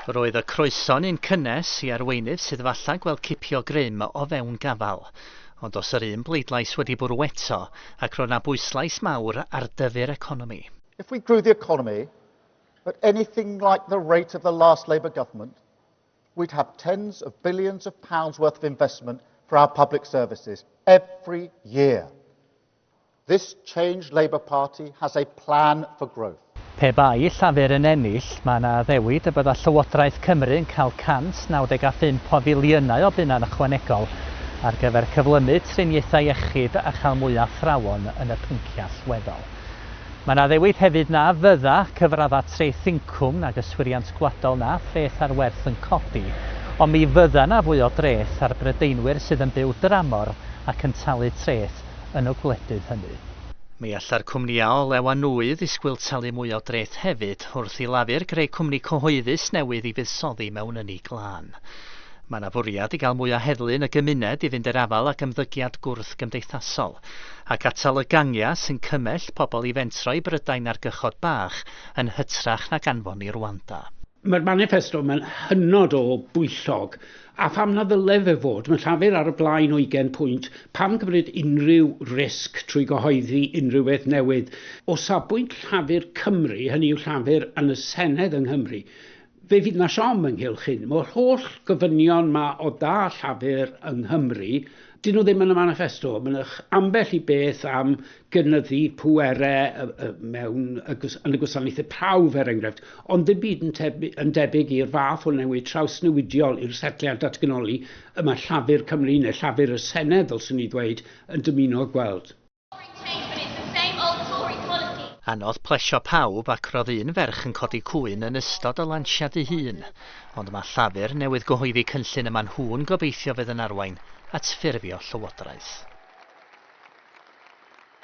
Roedd y croeso'n un cynnes i arweinydd sydd falle gweld cipio grym o fewn gafal. Ond os yr un bleidlais wedi bwrw eto, ac roedd 'na bwyslais mawr ar dyfu'r economi. If we grew the economy at anything like the rate of the last Labour Government, we'd have tens of billions of pounds worth of investment for our public services every year. This Change Labour Party has a plan for growth. Pe bai Llafur yn ennill, mae yna addewid y bydda Llywodraeth Cymru yn cael 195 o filiynau o bunnau ychwanegol ar gyfer cyflymu triniaethau iechyd a chael mwy o athrawon yn y pynciau allweddol. Mae yna addewid hefyd na fydda cyfraddau treth incwm nag yswiriant gwladol na threth ar werth yn codi, ond mi fydda yna fwy o dreth ar Brydeinwyr sydd yn byw dramor ac yn talu treth yn y gwledydd hynny. Mi alla'r cwmnïau olew a nwy ddisgwyl talu mwy o dreth hefyd wrth i Lafur greu cwmni cyhoeddus newydd i fuddsoddi mewn ynni glân. Mae 'na fwriad i gael mwy o heddlu yn y gymuned i fynd i'r afael ag ymddygiad gwrthgymdeithasol, ac atal y gangiau sy'n cymell pobl i fentro i Brydain ar gychod bach yn hytrach nag anfon i Rwanda. Mae'r maniffesto mae'n hynod o bwyllog. A pham na ddyle fe fod? Mae Llafur ar y blaen o 20 pwynt. Pam cymryd unrhyw risg trwy gyhoeddi unrhyw beth newydd? O safbwynt Llafur Cymru, hynny yw Llafur yn y Senedd yng Nghymru, fe fydd na siom ynghylch hyn. Mae'r holl gofynion ma o dda Llafur yng Nghymru, dyn nhw ddim yn y maniffesto. Mae'n ambell i beth am gynyddu pwerau mewn, yn y gwasanaethau prawf er enghraifft, ond ddim byd yn, tebyg, yn debyg i'r fath o newid trawsnewidiol i'r setliad datganoli y mae Llafur Cymru neu Llafur y Senedd, ddylswn i ddweud, yn dymuno gweld. Anodd plesio pawb ac roedd un ferch yn codi cŵyn yn ystod y lansiad ei hun, ond mae Llafur newydd gyhoeddi cynllun y mae nhw'n gobeithio fydd yn arwain at ffurfio llywodraeth.